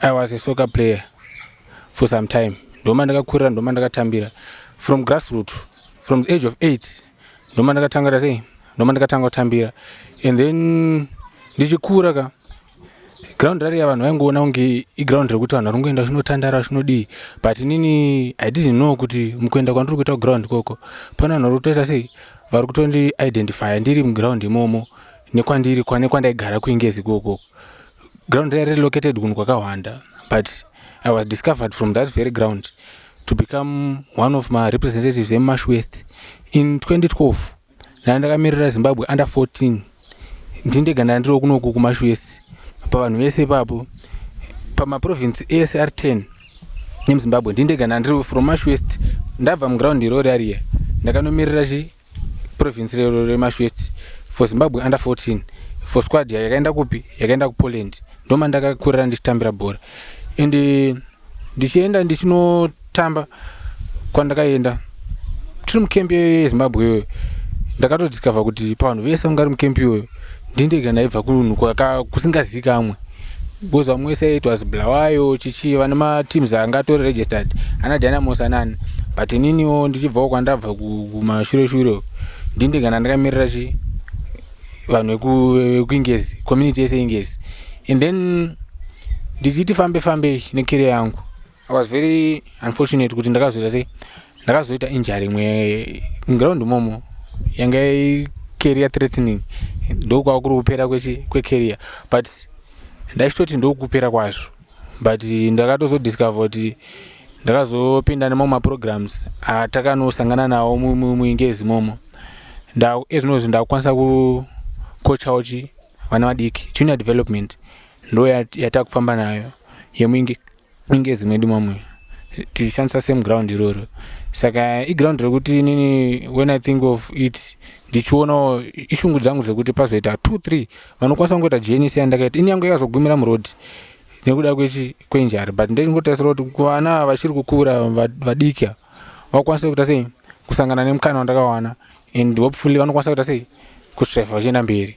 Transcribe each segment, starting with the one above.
i was a soccer player for some time ndoma ndakakurira ndoma ndakatambira from grassroot from the age of eight ndoma ndakatangata sei ndoma ndakatanga kutambira and then ndichikura ka ground rariya vanhu vaingoona kunge iground rekuti vanhu vari kungoenda zvinotandara zvinodii but inini i didn't know kuti mukuenda kwandiri kuita kuground ikoko pane vanhu vari kutoita sei vari kutondi identifya ndiri muground imomo nekwandiri kwane kwandaigara kuingezi ikokoko ground raive relocated kunhu kwakahwanda but i was discovered from that very ground to become one of marepresentatives emash west in 2012 ndana ndakamirira zimbabwe under 14 ndindega ndana ndiri kunoku kumash west pavanhu vese ipapo pamaprovince ese ari 10 nemuzimbabwe ndindega ndana ndiri from mash west ndabva muground irori ariya ndakanomirira chi province rero remash west for zimbabwe under 14 for squad yayo yakaenda kupi yakaenda kupoland ndoma ndakakurira ndichitambira bhora and eh, ndichienda ndichinotamba kwandakaenda tiri mukembi yezimbabwe iyoyo ndakatodiscover kuti pavanhu vese vangari mukembi iyoyo ndindega ndaibva kunhu kusingazikamwe because vamwe wese it was blawayo chichi vane mateams anga atori registered ana dynamos anani but ininiwo ndichibvawo kwandabva kumashure shure ndindega ndandakamirira chi vanhu vekuingezi community yese ingezi and then ndichiti fambe fambei nekeria yangu I was very unfortunate kuti ndakazoita sei ndakazoita injury imwe ground momo yanga career threatening ndokwava kuri kupera kwecareer but ndaichitoti ndokupera kwazvo but ndakatozodiscover kuti ndakazopinda nemamwe maprograms atakanosangana nawo muingezi momo ezvinozvi ndakukwanisa kukochawo chi vana vadiki junior development ndo yatakufamba nayo inge zimwe di mamwe tichishandisa same ground iroro saka iground rekuti inini when i think of it ndichionawo ishungu dzangu dzekuti pazoita two three vanokwanisa kungoita jns yandakaita ini yangu yakazogumira muroad nekuda kwechi kwenjari but ndechingotarisira kuti kuvana vachiri kukura vadiki vakwanise kuita sei kusangana nemukana wandakawana and hopefully vanokwanisa kuita sei kutreva vachienda mberi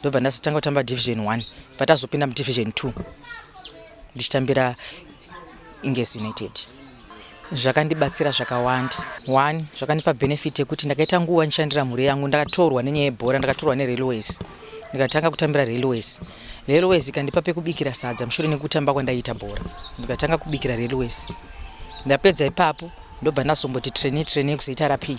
ndobva ndazotanga kutamba division one patazopinda mudivision two ndichitambira ingesi united zvakandibatsira zvakawanda one zvakandipa benefit yekuti ndakaita nguva ndishandira mhuri yangu ndakatorwa nenyaya yebhora ndakatorwa nerailways ndikatanga kutambira railways railways ikandipa pekubikira sadza mushure nekutamba kwandaiita bhora ndikatanga kubikira railways ndapedza ipapo ndobva ndazomboti traini traini yekuzoita rapii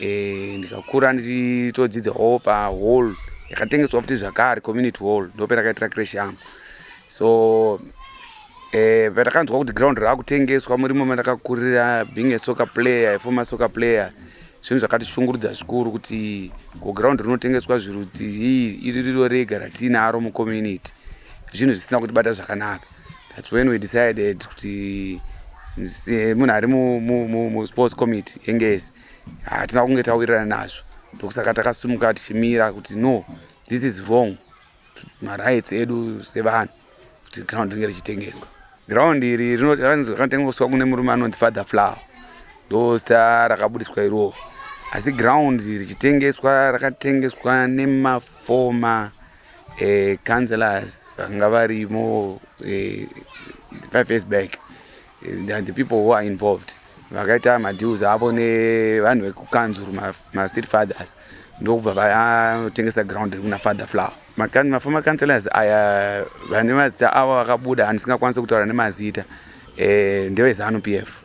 eh, ndikakura ndichitodzidza hall pahall yakatengeswa futi zvakare community hall ndopendakaitira crash yangu so eh, patakanzwa kuti ground raakutengeswa murimo mandakakurira being a soccer player aformer soccer player zvinhu zvakatishungurudza zvikuru kuti ko ground rinotengeswa zvirudzi iri riro rega ratiinaro mucommunity zvinhu zvisina kutibata zvakanaka That's when we decided kuti eh, munhu ari musports committee yengezi hatina kunge tawirirana nazvo ndokusaka takasumuka tichimira kuti no this is wrong marights edu sevanhu kuti ground ringe richitengeswa ground iri rinotengeswa kune murume anonzi father flower ndo zita rakabudiswa iroo asi ground richitengeswa rakatengeswa nemafoma eh, councillors vakanga varimo eh, five years back eh, and the people who are involved vakaita madeals avo nevanhu vekukanzuru macity fathers ndokubva vatengesa ground rekuna father flower maformer councillors aya vane mazita avo vakabuda andisingakwanisi kutaura nemazita eh, ndevezanu p f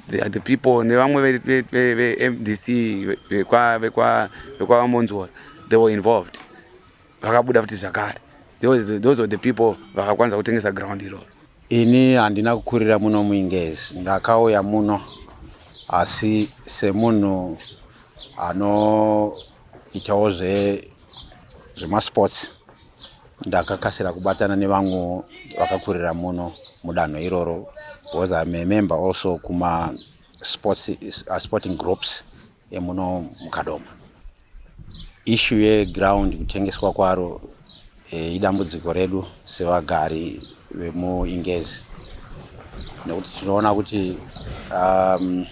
They are the people nevamwe vemdc vekwavamonzora they were involved vakabuda futi zvakare those were the people vakakwanisa kutengesa ground iroro ini handina kukurira muno muingezi ndakauya muno asi semunhu anoitawo zvemasports ndakakasira kubatana nevamwe vakakurira muno mudanho iroro because I'm a member also kuma sports, uh, sporting groups emuno mukadoma ishu yeground kutengeswa kwaro e, idambudziko redu sevagari vemuingezi nekuti tinoona kuti um,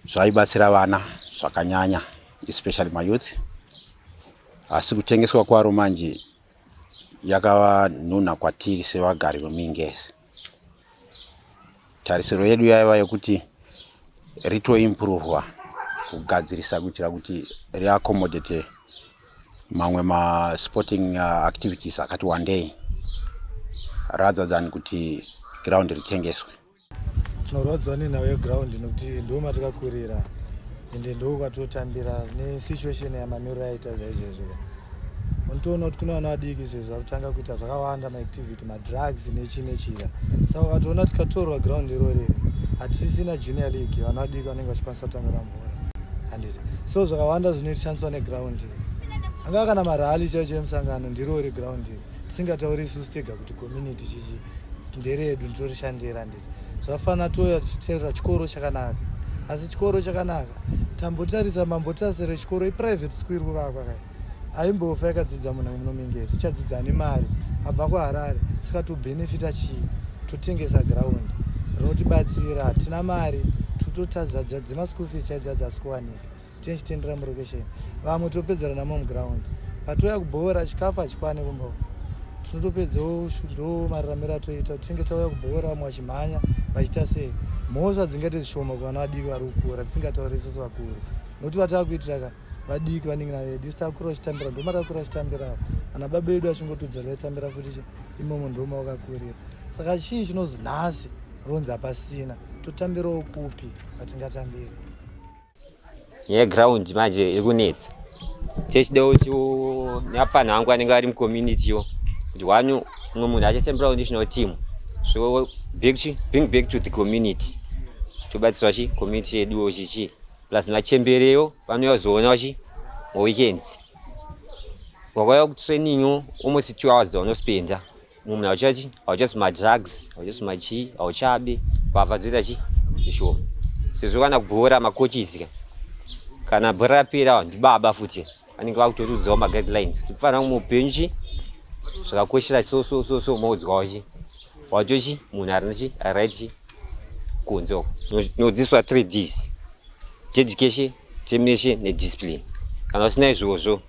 zvaibatsira vana zvakanyanya especially mayouth asi kutengeswa kwaro manje yakava nhunha kwatiri sevagari vemingezi tarisiro yedu yaiva yekuti ritoimprovwa kugadzirisa kuitira kuti riaccomodate mamwe masporting uh, activities akati wandei rather than kuti ground ritengeswe tinorwadziwa nenhau yeground nokuti ndo matakakurira ende ndo kwatotambira nesituation yamamiriro aita zvaizvezvoka unotoona kuti kune vana vadiki izvezvo vari kutanga kuita zvakawanda maactivity madrugs nechi nechika saka ukatoona tikatorwa ground iro riri hatisisina junior league vana vadiki vanenge vachikwanisa kutambira mvura handiti so zvakawanda zvinotishandiswa neground iri angava kana marali chaicho emusangano ndirori ground iri tisingatauri isusu tega kuti community chichi nderedu nditorishandira nditi zvafana touya tichiterera chikoro chakanaka asi chikoro chakanaka tambotarisa mambotase rechikoro iprivate school iri kuvakwa kai aimbofa yakadzidza munhu munomingezi ichadzidza nemari abva kuharare saka tobhenefita chii totengesa ground rinotibatsira hatina mari tototadzadza dzemaschool fees chaidzadza asi kuwanika tinchitendera murokesheni vamwe topedzera namo muground patouya kubhoora chikafu hachikwane kumba uko tinotopedzawo ndo mararamiro atoita kuti tinge tauya kubhoora vamwe vachimhanya vachiita sei mhosva dzingaite zvishoma kuvana vadiki vari kukura tisingatauri isusu vakuru nokuti vatava kuitira ka vadiki vanenge navedu isu takura vachitambira ndoma takura vachitambirawo ana baba vedu vachingotudzora vaitambira futi imomo ndoma wakakurira saka chii chinozi nhasi ronzi hapasina totambirawo kupi patingatambiri yeground manje iri kunetsa techida kuti neapfanha vangu vanenge vari mucommunity yo kuti wani umwe munhu achatemberawo national team so back to, bring back to the community tobatsirwa chi community yeduwo chichi plus machembereyo vanouya kuzoonawo chi maweekends wakauya kutraining almost two hours dzavanospenda mumwe hauchachi hauchasi madrugs hauchasi machii hauchabe mbavha dzoita chi dzishoma sezvo kana bhora makochizika kana bhora rapera ndibaba futi vanenge vakutotiudzawo maguidelines kuti kufanira kumwe upenyu chi zvakakoshera so so so so moudzwawo chi wacho chi munhu arina chi aright chi kunze uko nodzidziswa three ds teeducation termination nediscipline kana usina izvozvo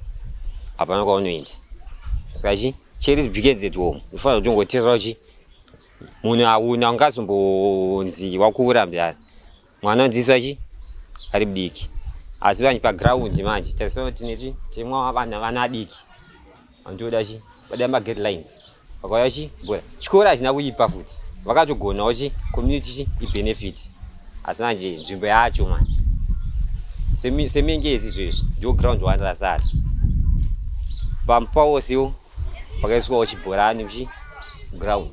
hapana kwaunoenda saka chi cheri begins at home unofanira kutongoteerera uchi munhu auna ungazombonzi wakuvura mdara mwana unodzidziswa chi ari mudiki asi vanhu paground manje tarisana kuti neti timwa vana vana adiki Andoda chi vada ma guidelines. Vakauya chi bora. Chikora achina kuipa futi. Vakatogonawo chi community chi i benefit. Asi manje nzvimbo yacho manje. Semi semengezi izvezvi ndio ground one rasara. Pamupawo siwo pakaiswawo chibhorani chi ground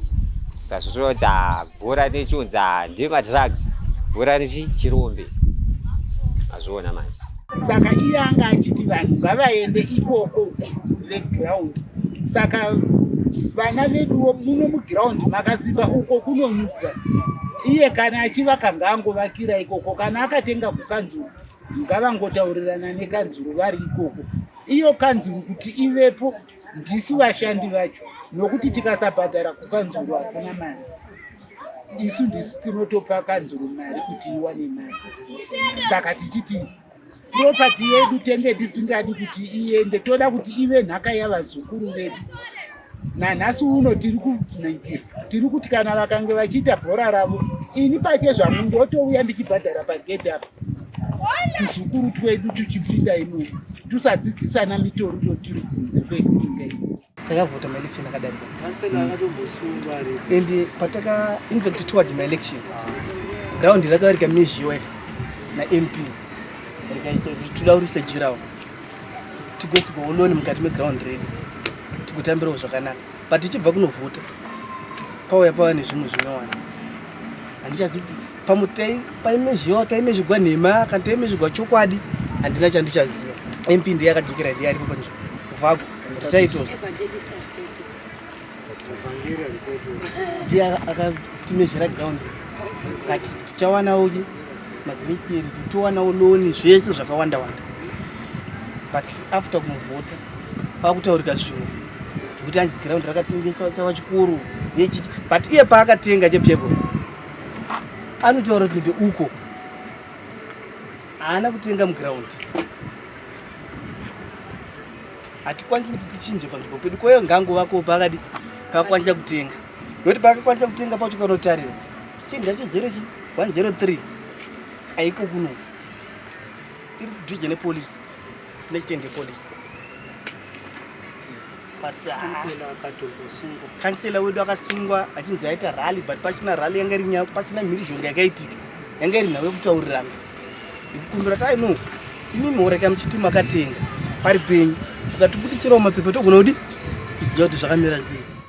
sazvozvoita bhora nechiunza ndemadrugs bhora nechirombe azviona manje saka iye anga achiti vanhu ngavaende ikoko veground saka vana veduwo muno muground makasimba uko kunonudza iye kana achivaka ngaangovakira ikoko kana akatenga kukanzuru ngavangotaurirana nekanzuru vari ikoko iyo kanzuru kuti ivepo ndisu vashandi vacho nokuti tikasabhadhara kukanzuru hakuna mari isu ndisu tinotopa kanzuru mari kuti iwane mari saka tichiti propati yedu tenge tisingadi kuti iende toda kuti ive nhaka yavazukuru vedu nanhasi uno tiri kunaikira tiri kuti kana vakange vachiita bhora ravo ini pache zvangu ndotouya ndichibhadhara pagedhi apa tuzukuru twedu tuchipinda imomo Tusadzidzisana mitoriro tiri kunze kwekuinga iyi. Takavhota maelection akadarika. Councillor akatombosungwa ari. And pataka in fact towards my election. Ground rakavarika mizhiwe na MP. Rikaiso toda kurisa jirawo. Tigwe tigooloni mukati meground redu. Tigotambirawo zvakanaka. But tichibva kunovhota. Pauya pava nezvimwe zvinowana. Handichazivi kuti pamwe taimezviwa taimezvigwa nhema kana taimezvigwa chokwadi handina chandichaziva mp ndiye akadzokera ndiye aripo panzvimbo kuvako titaitos ndiye akatimezvira ground kati tichawanawo ki magmisteri tichiwanawo loni zvese zvakawanda wanda but after kumuvhota pakutaurika zvimwe zvekuti anzi ground rakatengeswa chava chikuru but iye paakatenga chepyebolo anotaura kuti ndeuko haana kutenga muground hatikwanisi kuti tichinje panzvimbo pedu kwayo ngango vako pakadi pakakwanisa kutenga nokuti pakakwanisa kutenga pacho kanotarira chichinji chacho zero chi 103 aiko kuno iri kudhuze nepolisi Let's send the police. But kansela uh, wedu akasungwa achinzi aita rally but pasina rally yanga iri nyaya pasina mhirizhonga yakaitika yanga iri nhau yekutaurirana kumbira tai no imimi horeka muchiti makatenga pari penyu tikatibudisirawo mapepa togona kudi kuziva kuti zvakamira sei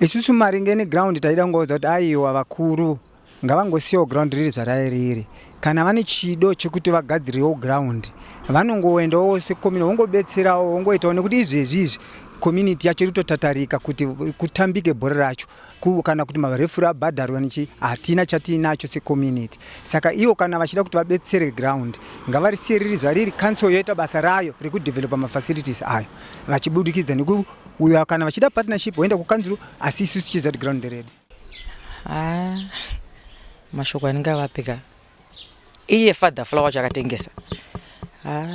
Isusu maringe neground taida kungoudza kuti aiwa vakuru ngavangosiyawo ground riri zvarairiri kana vane chido chekuti vagadzirewo ground vanongoendawo sekomini vongobetserawo vongoitawo nekuti izvezvi izvi community yacho iri kutotatarika kuti kutambike bhora racho kana kuti marefuri abhadharwa nechi hatina chatiinacho secommunity saka ivo kana vachida kuti vabetsere ground ngavarisiye riri zvariri council yoita basa rayo rekudevelopa mafacilities ayo vachibudikidza neku uyo kana vachida partnership voenda kukanzuru asi isu tichiza kuti ground nderedu ah, mashoko anenge avapika iye father flower wacho akatengesa ah,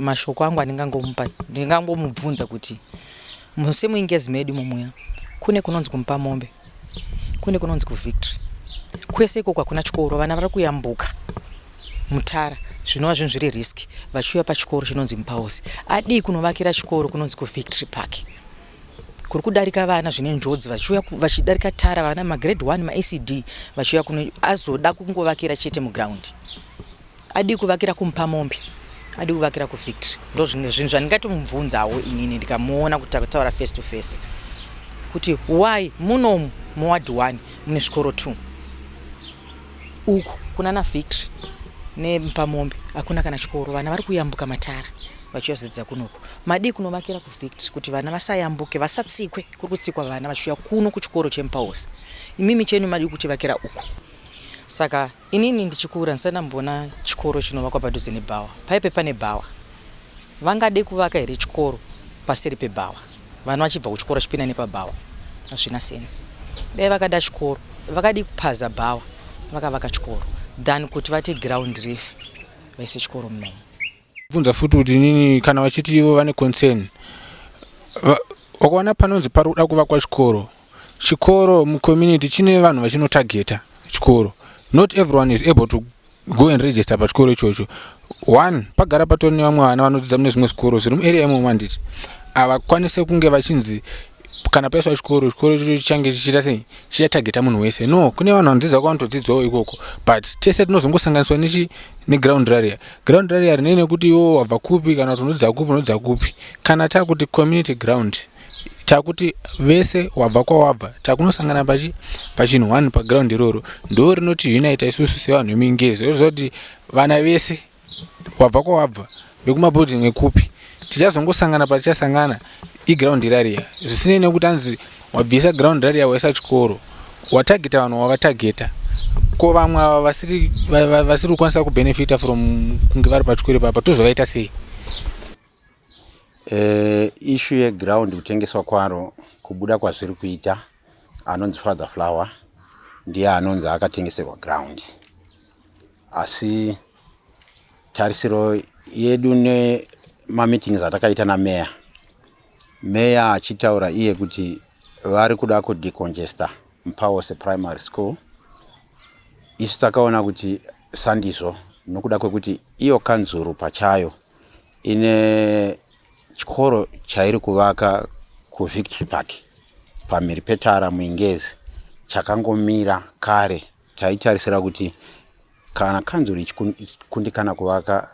mashoko angu andingangomupa ndingangomubvunza kuti musemuingezi medu mumuya kune kunonzi kumupa mombe kune kunonzi kuvictory kwese ikoko hakuna chikoro vana vari kuyambuka mutara zvinova zvinhu zviri risk vachiuya pachikoro chinonzi mupaosi adii kunovakira chikoro kunonzi kuvictory park kuri kudarika vana zvine njodzi vachiuya vachidarika tara vana magrade one maecd vachiuya kuno azoda kungovakira chete mugraundi Adii kuvakira kumupamombe adi kuvakira kuvictory ndo zvimwe zvinhu zvandingatomubvunzawo inini ndikamuona kuti takutaura face to face kuti why munomu muwadi one mune zvikoro two uku kuna na victory nepamombe hakuna kana chikoro vana vari kuyambuka matara vachiyazodzidza kunoku madii kunovakira kuvictory kuti vana vasayambuke vasatsikwe kuri kutsikwa vana vachiuya kuno kuchikoro chemupaosi imimi chenu madii kutivakira uku saka Inini ndichikura ndisati ndamboona chikoro chinovakwa padhuze nebhawa. Paipe pane bhawa. Vangade kuvaka here chikoro paseri pebhawa? Vana vachibva kuchikoro vachipinda nepabhawa. Hazvina sense. Dai vakada chikoro, vakadii kupaza bhawa vakavaka chikoro than kuti vati ground refu vaise chikoro munomu. bvunza futi kuti nini kana vachiti ivo vane concern wakaona panonzi pari kuda kuvakwa chikoro chikoro mucommunity chine vanhu vachinotageta chikoro not everyone is able to go and register pachikoro ichocho one pagara patori nevamwe vana vanodzidza mune zvimwe zvikoro zviri muarea imomo handiti havakwanise kunge vachinzi kana paiswa chikoro chikoro ichocho chichange chichiita sei chichatageta munhu wese no kune vanhu vanodzidza kwavanotodzidzawo ikoko but tese tinozongosanganiswa nechi neground raria ground raria rinei nekuti iwo wabva kupi kana kuti unodzidza kupi unodzidza kupi kana takuti community ground takuti vese wabva kwawabva takunosangana pachi pachinhu one paground iroro ndo rinoti unita isusu sevanhu vemingezi oziva kuti vana vese Wabva kwawabva, vekuma building vekupi, tichazongosangana patichasangana iground rariya. Zvisinei nekuti anzi wabvisa ground rariya waisa chikoro, watageta vanhu wavatageta. Ko vamwe ava vasiri vasiri kukwanisa kubenefita from kunge vari pachikoro ipapa tozovaita sei? Eh, issue yeground kutengeswa kwaro kubuda kwazviri kuita anonzi father flower ndiye anonzi akatengeserwa ground asi tarisiro yedu nemameetings atakaita nameya meya achitaura iye kuti vari kuda kudecongesta mupawose primary school isu takaona kuti sandizvo nokuda kwekuti iyo kanzuru pachayo ine chikoro chairi kuvaka kuvictory park pamhiri petara muingezi chakangomira kare Taitarisira kuti kana kanzuru ichikundikana kuvaka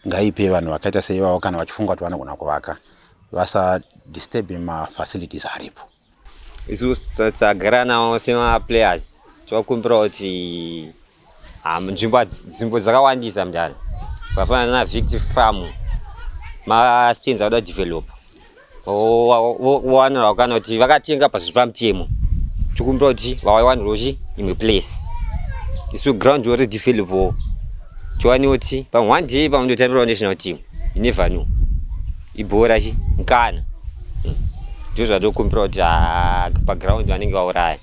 ngaipe vanhu vakaita seivavo kana vachifunga kuti vanogona kuvaka vasadisturbe mafacilities aripo isu tagara nawo semaplayers tinokumbira kuti ah, nzvimbo nzvimbo dzakawandisa mudare zvakafanana navicti farm mastands akuda develop vowanira vakana kuti vakatenga pazviri pamutemo tikumbira kuti vawaiwanirwa chi imwe place isu ground ori developwo tiwane kuti pamwe one day pamwe ndotambirawo national team inever new ibhora chi mkana hmm. ndizvo zvatikumbira kuti ah, paground vanenge vauraya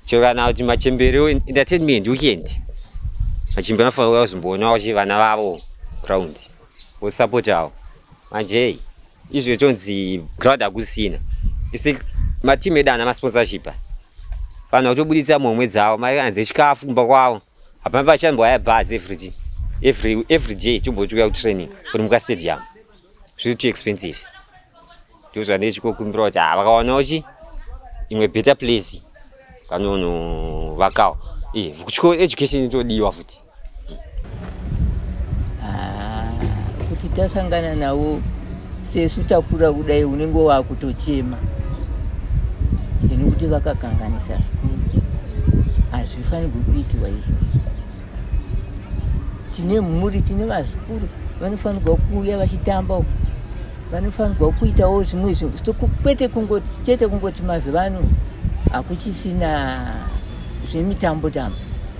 chero kana kuti machembere entertainment weekend machembere anofanira kuya kuzomboona kuti vana vavo ground vosapotawo manje izvo ichonzi ground hakusina isi matimu edu ana masponsorship vanhu vakutobuditsa mhomwe dzavo mari anzi chikafu kumba kwavo hapana pachambwa ya bus every every every day chombochiuya kutraining kuri muka stadium zviri too expensive ndo zvandee chikokumbira kuti ha ah, vakawanawo chi imwe better place vanonovakawo e eh, kuchikoro education itodiwa futi Ah, kuti tasangana navo sesu takura kudai unenge wakutochema ini kuti vakakanganisa zvikuru hazvifanirwi kuitiwa izvo tine mhuri tine vazukuru vanofanirwa kuuya vachitamba uku vanofanirwa kuitawo zvimwe kwete kungoti chete kungoti mazuva ano hakuchisina zvemitambo tambo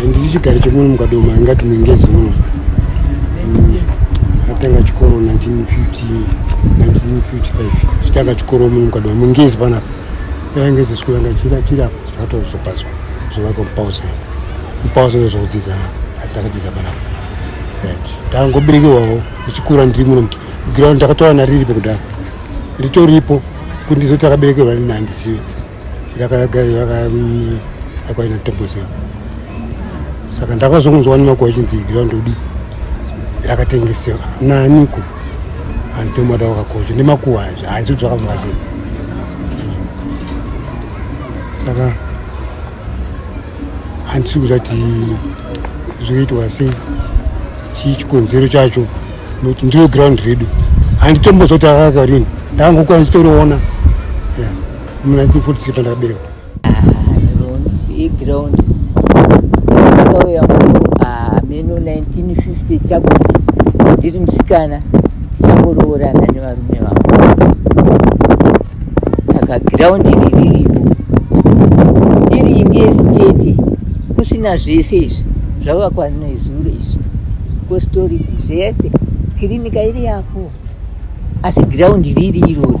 handiti chigari chemuno mukadoma ingati muingezi muno mm, atanga chikoro 1950 1955 chitanga chikoro muno mukadoma muingezi panapa yainge zesukuru yanga chira chira zvatozopazwa zvovaka mupausa mupausa ndozvakudzidza atakadzidza panapa right tangoberekewawo ndichikura ndiri muno ground ndakatowana riripo kudaro ritoripo kuti ndizoti akaberekerwa nini handizivi yakaina tembosea saka ndakazongonzwa nemakuwa ichinzi ground udi rakatengesewa naniko anditomada wakakocha nemakuwa hanzi kuti zvakafamba sei saka handisi kuzati zvoitwa sei chii chikonzero chacho nokuti ndiro ground redu handitombozoti akakarini ndangokwanisa toroona mu 1943 pandakaberekwa yeground ndakauya muno hameno 1950 chakuti ndiri musikana tichangoroorana nevarume vangu saka ground iri riripo iri imbi yesitete kusina zvese izvi zvavakwa nezuro izvi kositoriti zvese kirinika iri yapo asi giraundi riri irori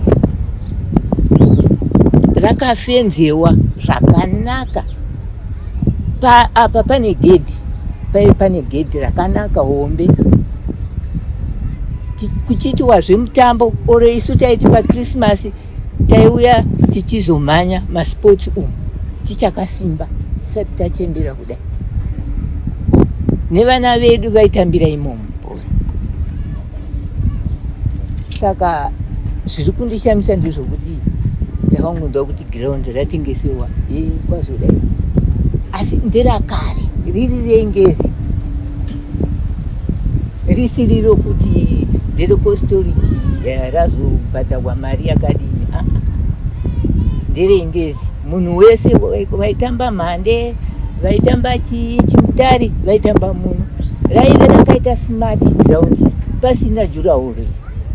rakafenzewa zvakanaka pa, apa pane gedhi paive pane gedhi rakanaka hombe kuchiitiwa zvemutambo oro isu taiti pakrisimasi taiuya tichizomhanya masports umu tichakasimba tisati tachembera kudai nevana vedu vaitambira imomo saka zviri kundishamisa ndezvokuti ndakangonzwa kuti ground ratengeserwa kwazodai asi nderakare riri rengezi risiri rokuti nderekostoriti eh, razobhadharwa mari yakadini ah, ah. nderengezi munhu wese vaitamba mhande vaitamba chii chimutari vaitamba muno raive rakaita smart ground pasina jurahoro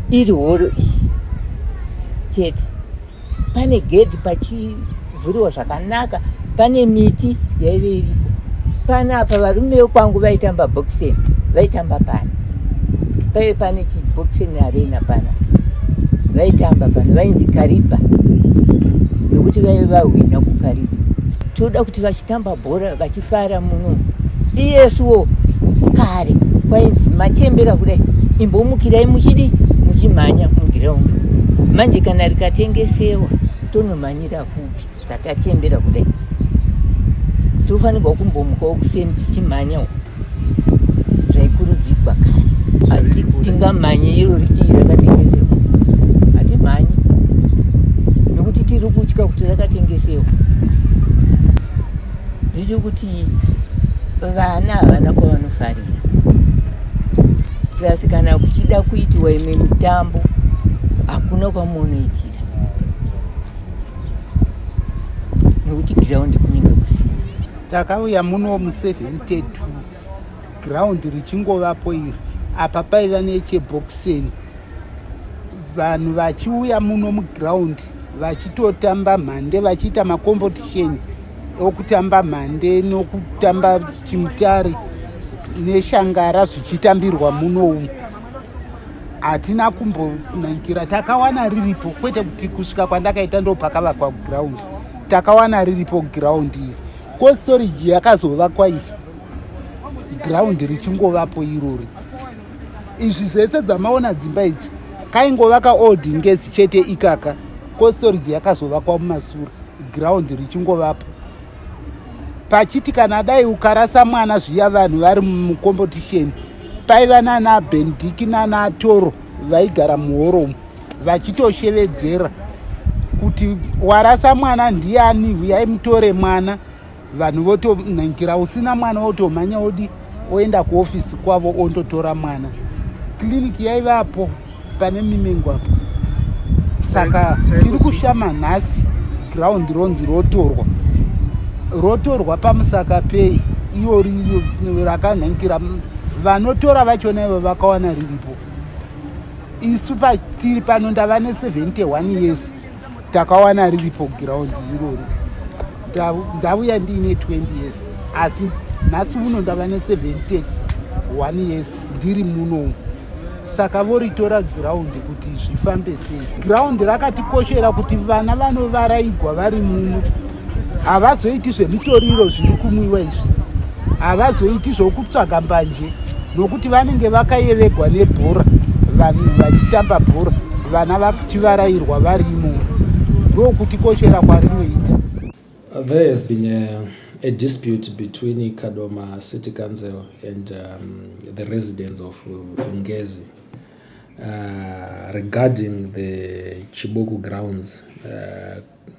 iri horo ichi chete pane gedhi pachivhuriwa zvakanaka pane miti yaive iripo panapa varume vekwangu vaitamba boxing vaitamba pano paive pane chiboxing arena pana vaitamba pana vainzi kariba nokuti vaive vahwina kukariba toda kuti vachitamba bhora vachifara muno iyesuwo kare kwainzi machembera kudai imbomukirai muchidi muchimhanya mugiraundi manje kana rikatengesewa tonomhanyira kupi saka tachembera kudai tofanirwa kumbomukawo kuseni tichimhanyawo zvaikurudzigwa kare tingamhanye iro ritii rakatengesewa hatimhanye nekuti tiri kutya kuti rakatengesewa zvicho kuti vana havana kwavanofarira plus kana kuchida kuitiwa imwe mitambo hakuna kwamunoitira nekuti ground kunenge kusina takauya muno mu 72 ground richingovapo iri apa paiva necheboxeni vanhu vachiuya muno muground vachitotamba mhande vachiita macompetition okutamba mhande nokutamba chimutare neshangara zvichitambirwa muno umu hatina kumbonaikira takawana riripo kwete kuti kusvika kwandakaita ndopakavakwa ground takawana riripo ground iri ko storage yakazovakwa iyi ground richingovapo irori izvi zvese dzamaona dzimba idzi kaingovaka old ngezi chete ikaka ko storage yakazovakwa mumasura ground richingovapo pachiti kana dai ukarasa mwana zviya vanhu vari mucompetition paiva nana bendiki nana toro vaigara muhoromu vachitoshevedzera kuti warasa mwana ndiani huyai mutore mwana vanhu votonangira usina mwana wotomhanya wodi oenda kuofisi kwavo ondotora mwana kliniki yaivapo pane mimengo apo saka tiri kushama nhasi ground ronzi rotorwa rotorwa pamusaka pei iyo rakanhankira vanotora vachona ivo vakawana riripo isu patiri pano ndava ne 71 years takawana riripo ground irori ndavuya ndiine 20 years asi nhasi uno ndava ne7 one years ndiri munomu saka voritora ground kuti zvifambe sei ground rakatikoshera kuti vana vanovaraigwa vari muno havazoiti zvemitoriro zviri kumwiwa izvi havazoiti zvokutsvaga mbanje nokuti vanenge vakayeregwa nebhora vanhu vachitamba bhora vana vachivarairwa vari imomo ndokuti koshera kwarinoita there has been a, a dispute between kadoma city council and um, the residents of vungezi uh, regarding the chiboku grounds uh,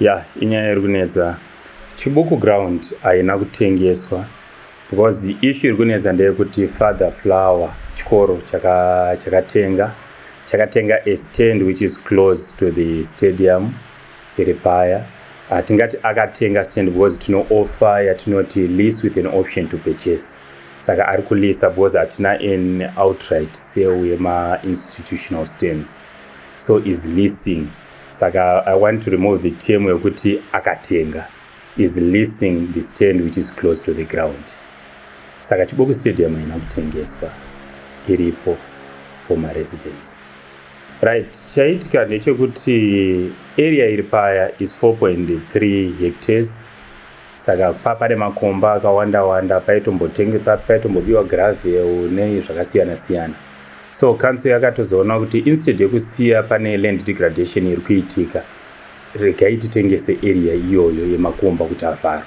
Yeah, inyaya iri kunetsa. Chibuku ground haina kutengeswa because issue iri kunetsa ndeyekuti father flower chikoro chakatenga chakatenga a stand which is close to the stadium iri paya hatingati ah, akatenga stand because tinooffer yatinoti lease with an option to purchase saka ari kulisa because hatina an outright sale yemainstitutional stands so is leasing Saka I want to remove the term yekuti akatenga is leasing the stand which is close to the ground. Saka Chiboku Stadium haina kutengeswa iripo for my residence. Right, chaitika ndechekuti area iri paya is 4.3 hectares saka pa pane makomba akawanda wanda paitombotengepa paitombobiwa gravel nei zvakasiyana siyana So council yakatozoona kuti instead yekusiya pane land degradation iri kuitika regai titengese area iyoyo yemakomba kuti avharwe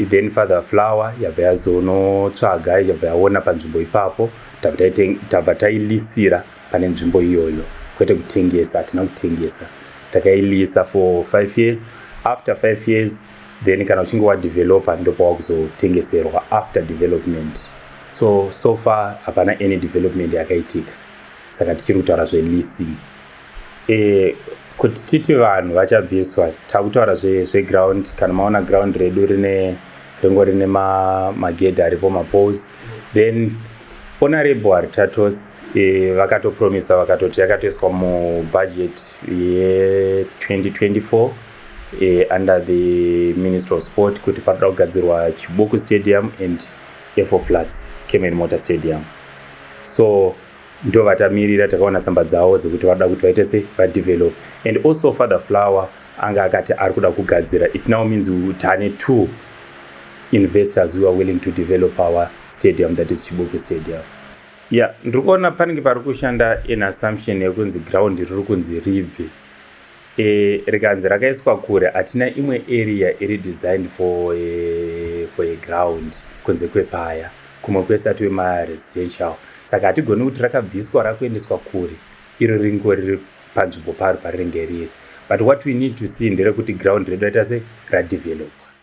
then father flower yabva yazonotsvaga yabva yaona panzvimbo ipapo tabva tailisira pane nzvimbo iyoyo kwete kutengesa hatina kutengesa takailisa for five years after five years then kana uchinge wadevelopa ndopawaa kuzotengeserwa after development So so far hapana any development yakaitika saka tichiri kutaura zveleasing e, kuti titi vanhu vachabviswa takutaura zveground zve kana maona ground redu rine ringo rine magedhi ma aripo mapose then ona rebo haritatos e, vakatopromisa vakatoti yakatoiswa mubudget ye2024 e, under the minister of sport kuti panoda kugadzirwa chibuku stadium and F4 Flats Cayman Motor Stadium so ndovatamirira takaona tsamba dzavo dzekuti vanoda kuti vaite sei vadevelop and also father flower anga akati ari kuda kugadzira it now means tane two investors who are willing to develop our stadium that is chibuku stadium ya yeah, ndiri kuona panenge pari kushanda in assumption yekunzi ground riri kunzi ribve e, rikanzi rakaiswa kure hatina imwe area iri designed for a, eh, for a ground kunze kwepaya kumwe kwese atiwe maresidential saka hatigoni kuti rakabviswa rakuendeswa kure iro ringo riri panzvimbo paro parinenge riri but what we need to see nderekuti ground redu raita se radevelopwa